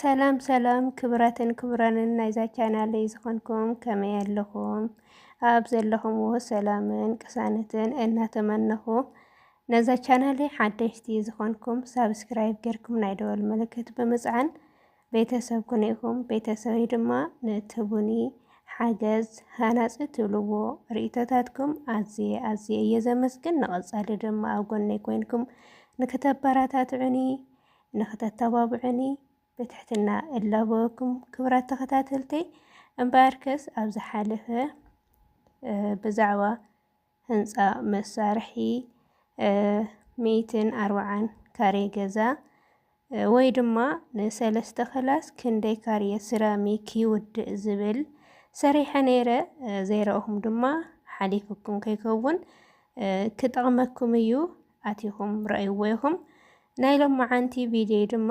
ሰላም ሰላም ክብራትን ክብራንን ናይዛ ቻናለይ ዝኾንኩም ከመይ ኣለኹም? ኣብ ዘለኹምዎ ሰላምን ቅሳነትን እናተመነኹ ነዛ ቻናለይ ሓደሽቲ ዝኾንኩም ሳብስክራይብ ጌርኩም ናይ ደወል ምልክት ብምፅዓን ቤተሰብ ኩኒኹም ቤተሰበይ ድማ ንእትቡኒ ሓገዝ፣ ሃናጺ ትብልዎ ርኢቶታትኩም ኣዝየ ኣዝየ እየ ዘመስግን። ንቐጻሊ ድማ ኣብ ጎነይ ኮይንኩም ንክተበራታትዑኒ፣ ንክተተባብዑኒ ብትሕትና እላበወኩም ክብራት ተኸታተልተይ። እምበኣርከስ ኣብ ዝሓለፈ ብዛዕባ ህንፃ መሳርሒ ሚእትን ኣርብዓን ካሬ ገዛ ወይ ድማ ንሰለስተ ክላስ ክንደይ ካሬ ስራሚክ ይውድእ ዝብል ሰሪሐ ነይረ ዘይረእኹም ድማ ሓሊፍኩም ከይከውን ክጠቕመኩም እዩ ኣቲኹም ረእይዎ ኢኹም ናይ ሎማዓንቲ ቪድዮይ ድማ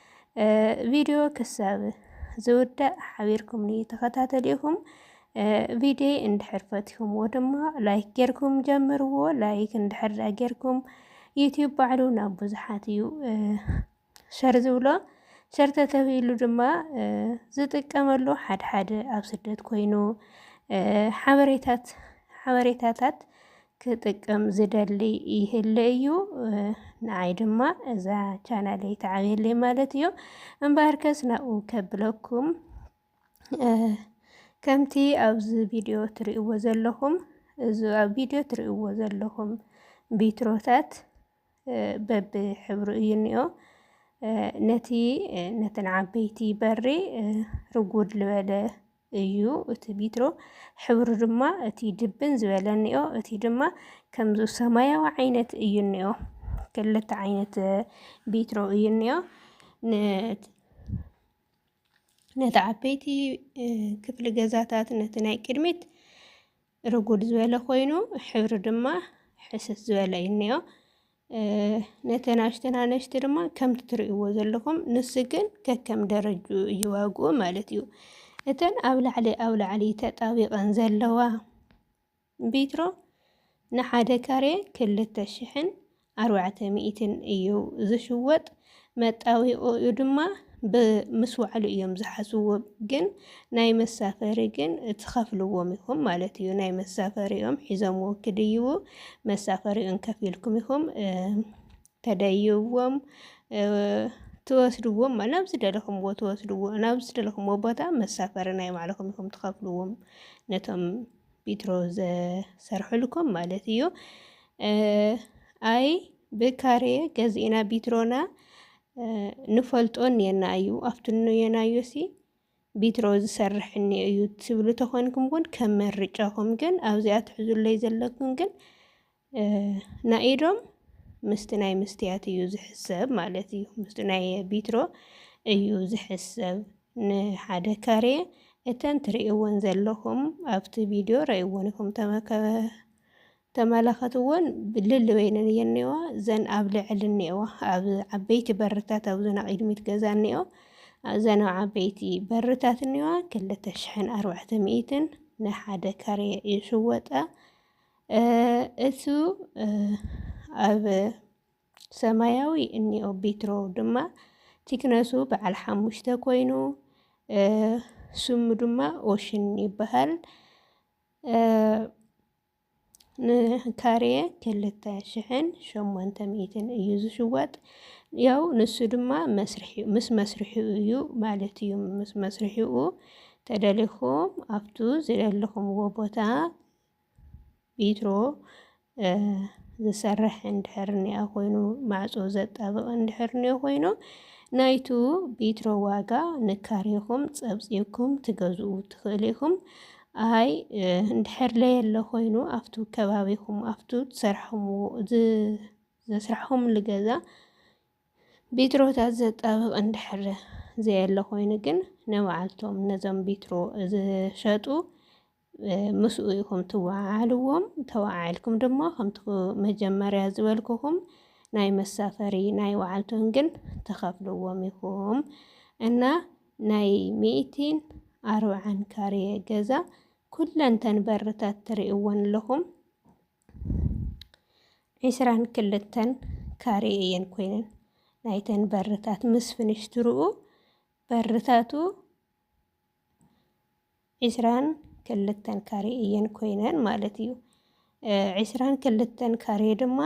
ቪድዮ ክሳብ ዝውዳእ ሓቢርኩምኒ ተኸታተል ኢኹም ቪድዮ እንድሕር ፈትኹምዎ ድማ ላይክ ጌርኩም ጀምርዎ ላይክ እንድሕር ጌርኩም ዩትዩብ ባዕሉ ናብ ብዙሓት እዩ ሸር ዝብሎ ሸር ተተብኢሉ ድማ ዝጥቀመሉ ሓድሓደ ኣብ ስደት ኮይኑ ሓበሬታት ሓበሬታታት ክጥቀም ዝደሊ ይህለ እዩ ንዓይ ድማ እዛ ቻናለይ ተዓብየለይ ማለት እዩ እምበኣርከስ ናብኡ ከብለኩም ከምቲ ኣብዚ ቪድዮ ትርእይዎ ዘለኹም እዚ ኣብ ቪድዮ ትርእይዎ ዘለኹም ቢትሮታት በቢ ሕብሩ እዩ እኒኦ ነቲ ነተን ዓበይቲ በሪ ርጉድ ዝበለ እዩ እቲ ቢትሮ ሕብሩ ድማ እቲ ድብን ዝበለ እኒኦ እቲ ድማ ከምዚ ሰማያዊ ዓይነት እዩ እኒኦ ክልተ ዓይነት ቢትሮ እዩ እኒኦ ነቲ ዓበይቲ ክፍሊ ገዛታት ነቲ ናይ ቅድሚት ርጉድ ዝበለ ኮይኑ ሕብሪ ድማ ሕስስ ዝበለ እዩ እኒኦ ነቲ ናሽተን ኣነሽቲ ድማ ከምቲ ትርእይዎ ዘለኹም ንሱ ግን ከከም ደረጁ እዩ ዋግኡ ማለት እዩ እተን ኣብ ላዕሊ ኣብ ላዕሊ ተጣቢቐን ዘለዋ ቢትሮ ንሓደ ካሬ ክልተ ሽሕን ኣርባዕተ ሚኢትን እዩ ዝሽወጥ መጣዊቆኡ ድማ ምስ ዋዕሉ እዮም ዝሓስዎ ግን ናይ መሳፈሪ ግን ትኸፍልዎም ኢኹም ማለት እዩ ናይ መሳፈሪኦም ሒዞምዎ ክድይቡ መሳፈሪኦም ከፊልኩም ኢኹም ተደይዎም ትወስድዎም ናብ ዝደለኹምዎ ትወስድዎ ናብ ዝደለኹምዎ ቦታ መሳፈሪ ናይ ባዕልኹም ኢኹም ትኸፍልዎም ነቶም ቢትሮ ዘሰርሕልኩም ማለት እዩ ኣይ ብካሬ ገዚእና ቢትሮና ንፈልጦ እኔና እዩ ኣብቲ እኔና እዩ ሲ ቢትሮ ዝሰርሕ እኒ እዩ ትብሉ ተኾንኩም ግን ከም መርጫኹም ግን ኣብዚኣ ትሕዙለይ ዘለኩም ግን ናይ ኢዶም ምስቲ ናይ መስትያት እዩ ዝሕሰብ ማለት እዩ ምስቲ ናይ ቢትሮ እዩ ዝሕሰብ ንሓደ ካሬ እተን ትርእይወን ዘለኹም ኣብቲ ቪድዮ ረእይወን ኢኹም ተመከ ተመላኸትወን ብልል በይነን እየን እኒአዋ እዘን ኣብ ልዕሊ እኒአዋ ኣብ ዓበይቲ በርታት ኣብዘን ኣብ ቅድሚት ገዛ እኒኦ እዘን ኣብ ዓበይቲ በርታት እኒዋ ክልተ ሽሕን ኣርባዕተ ሚእትን ንሓደ ካሬ ይሽወጣ እሱ ኣብ ሰማያዊ እኒኦ ቢትሮ ድማ ቲክነሱ በዓል ሓሙሽተ ኮይኑ ስሙ ድማ ኦሽን ይበሃል። ንካሬ ክልተ ሽሕን ሸሞንተ ሚእትን እዩ ዝሽወጥ። ያው ንሱ ድማ ምስ መስርሒኡ እዩ ማለት እዩ። ምስ መስርሒኡ ተደሊኹም ኣብቱ ዝደለኹምዎ ቦታ ቢትሮ ዝሰርሕ እንድሕር ኒኣ ኮይኑ ማዕጾ ዘጣብቕ እንድሕር ኒኦ ኮይኑ ናይቱ ቢትሮ ዋጋ ንካሬኹም ጸብጺብኩም ትገዝኡ ትኽእሉ ኢኹም። ኣይ እንድሕር ለየለ ኮይኑ ኣብቱ ከባቢኹም ኣብቱ ትሰርሕምዎ ዘስራሕኹም ልገዛ ቢትሮታት ዘጣብቕ እንድሕር ዘየለ ኮይኑ ግን ንባዓልቶም ነዞም ቢትሮ ዝሸጡ ምስኡ ኢኹም ትወዓዓልዎም ተወዓዒልኩም ድማ ከምቲ መጀመርያ ዝበልኩኹም ናይ መሳፈሪ ናይ ወዓልቱን ግን ትኸፍልዎም ኢኹም እና ናይ ሚእቲን ኣርብዓን ካሬ ገዛ ኩለን ተን በርታት ትርእይወን ኣለኹም ዒስራን ክልተን ካሬ እየን ኮይነን ናይተን በርታት ምስ ፍንሽትርኡ በርታቱ ዒስራን ክልተን ካሬ እየን ኮይነን ማለት እዩ። ዒስራን ክልተን ካሬ ድማ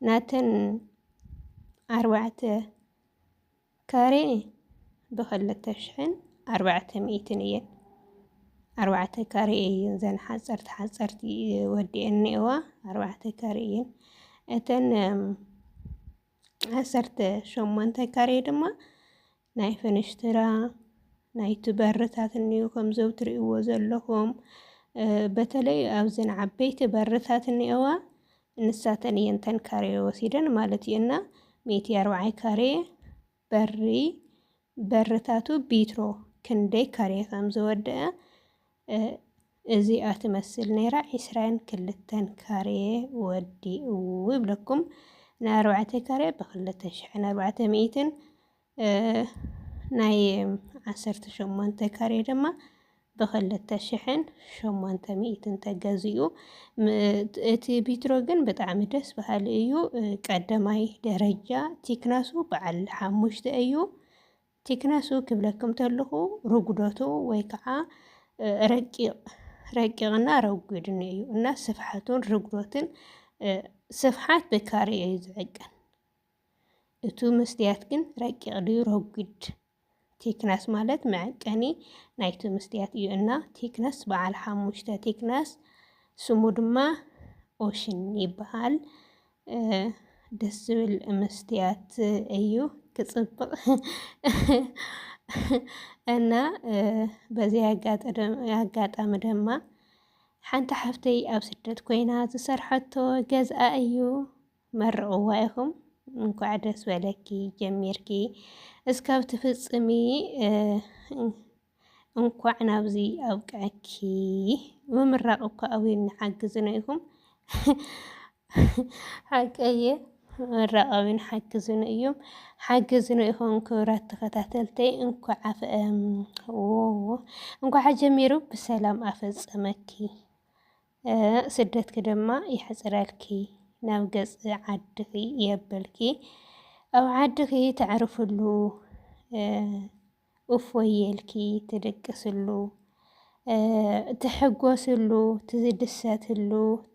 ናተን ኣርባዕተ ካሬ ብክልተ ሽሕን ኣርባዕተ ሚእትን እየን ኣርባዕተ ካሬ እየን ዘን ሓፀርቲ ሓፀርቲ ወዲኤን እኒኤዋ ኣርባዕተ ካሬ እየን እተን ዓሰርተ ሸሞንተ ካሬ ድማ ናይ ፈነሽትራ ናይቲ በርታት እኒኡ ከምዘው ትርእይዎ ዘለኹም በተለይ ኣብዘን ዓበይቲ በርታት እኒኦዋ ንሳተን እየን ተን ካሬ ወሲደን ማለት እዩ እና ሚእቲ ኣርባዓይ ካሬ በሪ በርታቱ ቢትሮ ክንደይ ካሬ ከም ዝወደአ እዚኣ ትመስል ነይራ ዒስራን ክልተን ካሬ ወዲኡ ይብለኩም ንኣርባዕተ ካሬ ብክልተ ሽሕን ኣርባዕተ ሚእትን ናይ ዓሰርተ ሸሞንተ ካሬ ድማ ብክልተ ሽሕን ሸሞንተ ሚእትን ተገዚኡ እቲ ቢትሮ ግን ብጣዕሚ ደስ በሃሊ እዩ ቀዳማይ ደረጃ ቲክነሱ በዓል ሓሙሽተ እዩ ቲክነሱ ክብለኩም ተልኹ ርጉደቱ ወይ ከዓ ረቂቕ ረቂቕና ረጒድን እዩ እና ስፍሓቱን ርግዶትን ስፍሓት ብካሬ እዩ ዝዕቀን። እቱ መስትያት ግን ረቂቕ ድዩ ረጒድ? ቴክነስ ማለት መዐቀኒ ናይቲ መስትያት እዩ እና ቴክነስ በዓል ሓሙሽተ ቴክነስ ስሙ ድማ ኦሽን ይበሃል። ደስ ዝብል መስትያት እዩ ክፅብቕ እና በዚ ኣጋጣሚ ድማ ሓንቲ ሓፍተይ ኣብ ስደት ኮይና ዝሰርሐቶ ገዝኣ እዩ መርቕዋ ኢኹም እንኳዕ ደስ በለኪ ጀሚርኪ እስካብ ትፍፅሚ እንኳዕ ናብዚ ኣብቅዐኪ ምምራቕ እኳ ኣበይኒ ሓግዝነ ኢኹም ሓቀየ ምምራቕ ኣበይኒ ሓግዝነ እዮም ሓግዝነ ኢኹም ክብራት ተኸታተልተይ እንኳዕ ኣፈ እንኳዕ ጀሚሩ ብሰላም ኣፈፀመኪ ስደትኪ ድማ ይሕፅረልኪ ናብ ገፅ ዓድኺ የበልኪ ኣብ ዓድኺ ተዕርፍሉ እፎይየልኪ ትድቅስሉ ትሕጎስሉ ትድሰትሉ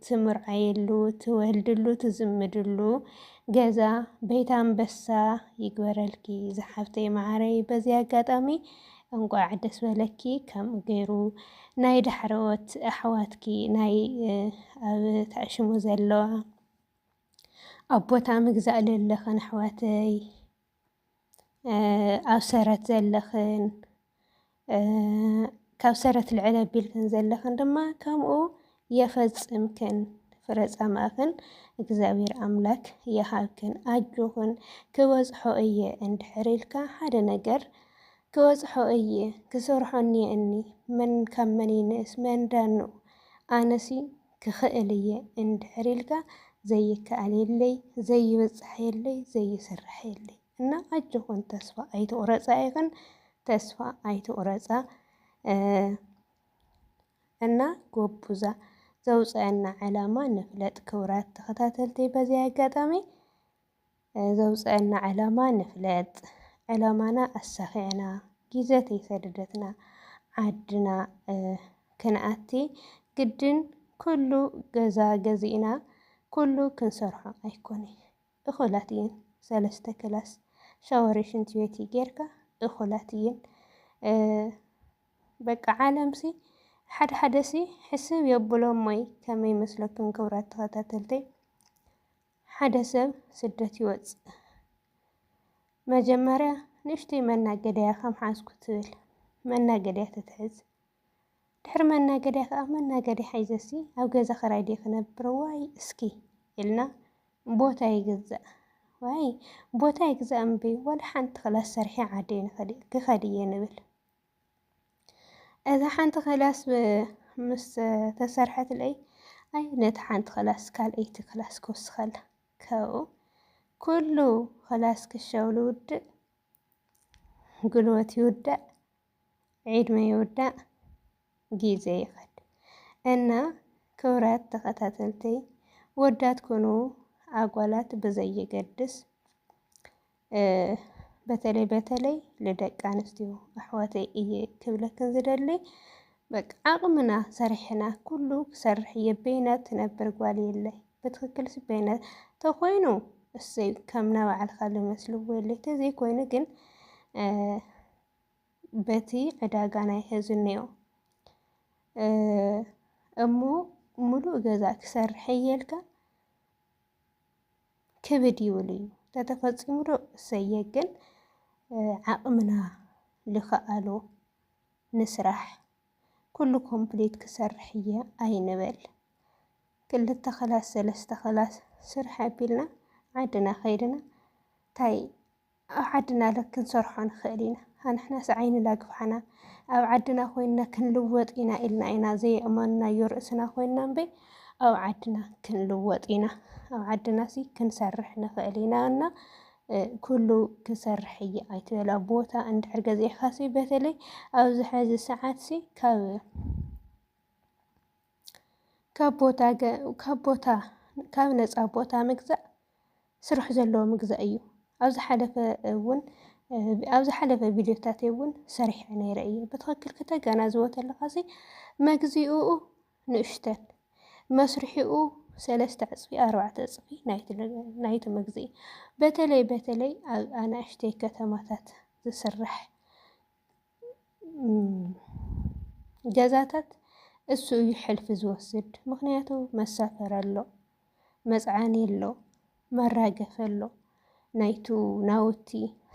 ትምርዓየሉ ትወልድሉ ትዝምድሉ ገዛ ቤት ኣንበሳ ይግበረልኪ ዝሓፍተይ መዓረይ በዚ ኣጋጣሚ እንቋዕ ደስ በለኪ ከም ገይሩ ናይ ዳሕረዎት ኣሕዋትኪ ናይ ኣብ ታእሽሙ ዘለዋ ኣቦታ ምግዛእ ለለኸን ኣሕዋተይ ኣብ ሰረት ዘለኽን ካብ ሰረት ልዕል ኣቢልክን ዘለኽን ድማ ከምኡ የፈፅምክን ፍረ ፃማእኽን እግዚኣብሔር ኣምላክ ይሃብክን ኣጆኽን ክበፅሖ እየ እንድሕር ኢልካ ሓደ ነገር ክበፅሖ እየ ክሰርሖ እኒየእኒ መን ካብ መን ይንእስ መን ዳንኡ ኣነሲ ክኽእል እየ እንድሕር ኢልካ ዘይከኣል የለይ ዘይብጻሕ የለይ ዘይስራሕ የለይ እና ኣጆኹን ተስፋ ኣይትቑረጻ ኢኽን ተስፋ ኣይትቑረጻ እና ጎቡዛ ዘውፀአና ዕላማ ንፍለጥ ክብራት ተኸታተልተይ በዚ ኣጋጣሚ ዘውፀኣና ዕላማ ንፍለጥ ዕላማና ኣሳኺዕና ግዘ ተይሰደደትና ዓድና ክንኣቲ ግድን ኩሉ ገዛ ገዚእና ኩሉ ክንሰርሖ ኣይኮነይ እኹላት እየን ሰለስተ ክላስ ሻወረ ሽንቲ ቤት ጌርካ እኹላት እየን በቃ ዓለምሲ ሓደ ሓደሲ ሕስብ የብሎሞይ ከመይ መስለኩም ክብራት ተኸታተልተይ ሓደ ሰብ ስደት ይወጽእ መጀመርያ ንእሽተይ መናገድያ ከም ሓዝኩ ትብል መናገድያ ትትሕዝ ድሕሪ መናገድያ ከኣ መናገድያ ሓይዘሲ ኣብ ገዛ ክራይ ድየ ክነብር ዋይ እስኪ ኢልና ቦታ ይግዛእ ዋይ ቦታ ይግዛእ እምበይ ዋላ ሓንቲ ክላስ ሰርሐ ዓደይ ክኸድ እየ ንብል እዛ ሓንቲ ክላስ ምስ ተሰርሐትለይ ኣይ ነቲ ሓንቲ ክላስ ካልኣይቲ ክላስ ክውስኸላ ካብኡ ኩሉ ክላስ ክሸው ልውድእ ጉልበት ይውዳእ ዒድመ ይውዳእ ጊዜ ይኸድ እና ክብራት ተኸታተልተይ ወዳት ኩኑ ኣጓላት ብዘየገድስ በተለይ በተለይ ልደቂ ኣንስትዮ ኣሕዋተይ እየ ክብለክን ዝደሊ በቃ ዓቕምና ሰሪሕና ኩሉ ክሰርሕ እየ በይና ትነብር ጓል የለ ብትክክል በይና ተኮይኑ እሰይ ከም ናባዕልካ ልመስል ወለ ተዘይኮይኑ ግን በቲ ዕዳጋ ናይ ህዝኒዮ እሞ ሙሉእ ገዛ ክሰርሕ እየልካ ክብድ ይብል እዩ ተተፈፂሙ ዶ እሰየ ግን ዓቕምና ልኸኣሎ ንስራሕ ኩሉ ኮምፕሊት ክሰርሕ እየ ኣይንበል ክልተ ክላስ ሰለስተ ክላስ ስርሕ ኣቢልና ዓድና ከይድና ታይ ኣብ ዓድና ለ ክንሰርሖ ንኽእል ኢና ኣንሕናስ ዓይኒ ላግብሓና ኣብ ዓድና ኮይንና ክንልወጥ ኢና ኢልና ኢና ዘየእመንናዮ ርእስና ኮይንና እምበይ ኣብ ዓድና ክንልወጥ ኢና ኣብ ዓድና ሲ ክንሰርሕ ንኽእል ኢና እና ኩሉ ክሰርሕ እየ ኣይትበል ኣብ ቦታ እንድሕር ገዚእኻሲ በተለይ ኣብዚ ሕዚ ሰዓትሲ ካብ ካብ ቦታ ካብ ቦታ ካብ ነፃ ቦታ ምግዛእ ስርሑ ዘለዎ ምግዛእ እዩ። ኣብ ዝሓለፈ እውን ኣብ ዝሓለፈ ቪድዮታት እውን ሰሪሐ ነይረ እየ ብትኽክል ከተገናዝቦ ተለኻሲ መግዚኡኡ ንእሽተን መስርሒኡ ሰለስተ ዕፅፊ ኣርባዕተ ዕፅፊ ናይቲ መግዝኢ በተለይ በተለይ ኣብ ኣናእሽተይ ከተማታት ዝስራሕ ገዛታት እሱ እዩ ሕልፊ ዝወስድ ምክንያቱ መሳፈሪ ኣሎ መፅዓኒ ኣሎ መራገፊ ኣሎ ናይቱ ናውቲ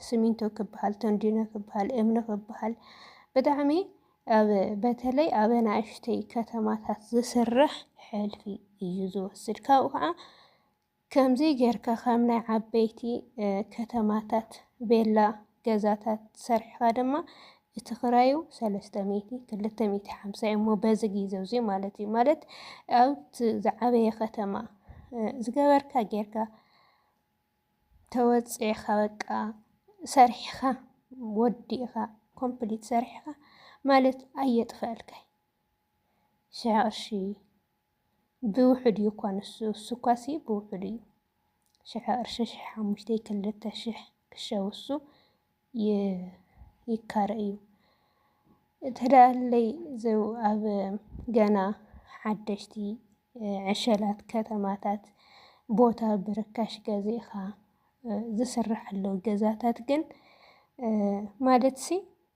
ስሚንቶ ክበሃል ተንዲኖ ክበሃል እምኒ ክበሃል ብጣዕሚ ኣብ በተለይ ኣብ ኣናእሽተይ ከተማታት ዝስራሕ ሕልፊ እዩ ዝወስድ ካብኡ ከዓ ከምዙይ ጌርካ ከም ናይ ዓበይቲ ከተማታት ቬላ ገዛታት ሰርሕኻ ድማ እቲ ክራዩ ሰለስተ ሚእቲ ክልተ ሚእቲ ሓምሳ እዩ እሞ በዚ ግዜ እዙይ ማለት እዩ ማለት ኣብቲ ዝዓበየ ከተማ ዝገበርካ ጌርካ ተወፂዕኻ በቃ ሰርሕኻ ወዲእኻ ኮምፕሊት ሰርሕኻ ማለት ኣየጥፈኣልካይ ሽሕ ቅርሺ ብውሑድ እዩ እኳ ንሱ እሱ እኳ ሲ ብውሑድ እዩ ሽሕ ቅርሺ ሽሕ ሓሙሽተይ ክልተ ሽሕ ክሸውሱ ይካረ እዩ እተደኣለይ ዘው ኣብ ገና ሓደሽቲ ዕሸላት ከተማታት ቦታ ብርካሽ ገዜኻ ዝስርሐለዉ ገዛታት ግን ማለትሲ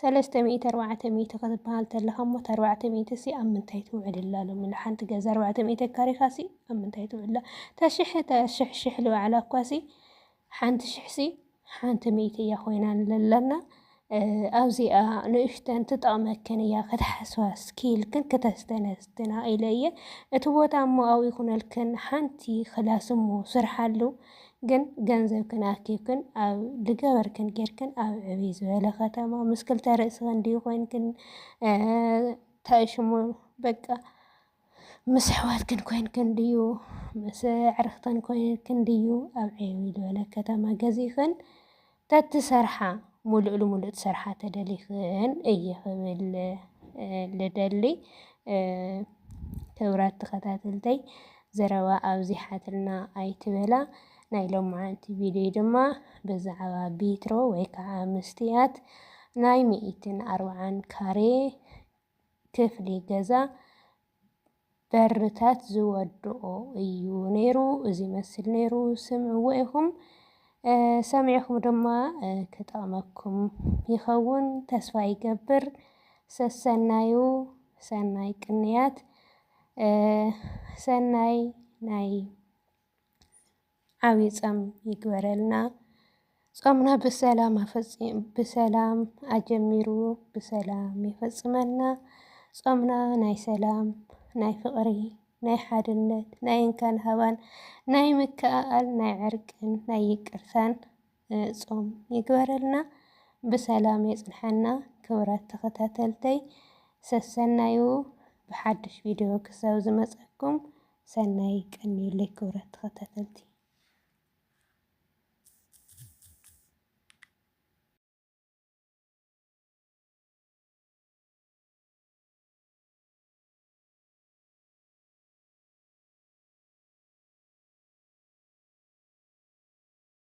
ሰለስተ ሚእቲ ኣርባዕተ ሚእቲ ክትበሃል ተለኻ እሞ ኣርባዕተ ሚእቲ ሲ ኣብ ምንታይ ትውዕልላ ሎሚ ሓንቲ ገዛ ኣርባዕተ ሚእቲ ኣካሪኻ ሲ ኣብ ምንታይ ትውዕላ እታ ሽሕ እታ ሽሕ ሽሕ ልበዓላ እኳ ሲ ሓንቲ ሽሕ ሲ ሓንቲ ሚእቲ እያ ኮይና ኣለና ኣብዚኣ ንእሽተን ትጠቕመክን እያ ክትሓስባ እስኪ ኢልክን ክተስተነስትና ኢለ እየ እቲ ቦታ እሞ ኣብኡ ይኹነልክን ሓንቲ ክላስ እሞ ስርሓሉ ግን ገንዘብክን ኣርኪብክን ኣብ ድገበርክን ጌርክን ኣብ ዕብይ ዝበለ ከተማ ምስ ክልተ ርእስክን ድዩ ኮይንክን ታይሽሙ በቃ ምስ ኣሕዋትክን ኮይንክን ድዩ ምስ ኣዕርኽተን ኮይንክን ድዩ ኣብ ዕብይ ዝበለ ከተማ ገዚእኽን ተትሰርሓ ሙሉእ ልሙሉእ ትሰርሓ ተደሊኽን እየ ክብል ልደሊ ክብራት ተኸታተልተይ ዘረባ ኣብዚሓትልና ኣይትበላ ናይ ሎምዓንቲ ቪድዮ ድማ ብዛዕባ ቢትሮ ወይ ከዓ ምስትያት ናይ ሚእትን ኣርብዓን ካሬ ክፍሊ ገዛ በርታት ዝወድኦ እዩ ነይሩ እዚ ይመስል ነይሩ ስምዕዎ ኢኹም ሰሚዕኹም ድማ ክጠቕመኩም ይኸውን ተስፋ ይገብር ሰሰናዩ ሰናይ ቅንያት ሰናይ ናይ ዓብይ ፆም ይግበረልና ፆምና ብሰላም ኣፈፂም ብሰላም ኣጀሚሩ ብሰላም የፈፅመና ፆምና ናይ ሰላም ናይ ፍቅሪ ናይ ሓድነት ናይ እንካን ሃባን ናይ ምክእኣል ናይ ዕርቅን ናይ ይቅርታን ጾም ይግበረልና ብሰላም የጽንሐና ክብራት ተኸታተልተይ ሰሰናዩ ብሓድሽ ቪድዮ ክሳብ ዝመጸኩም ሰናይ ቀንዩለይ ክብራት ተኸታተልቲ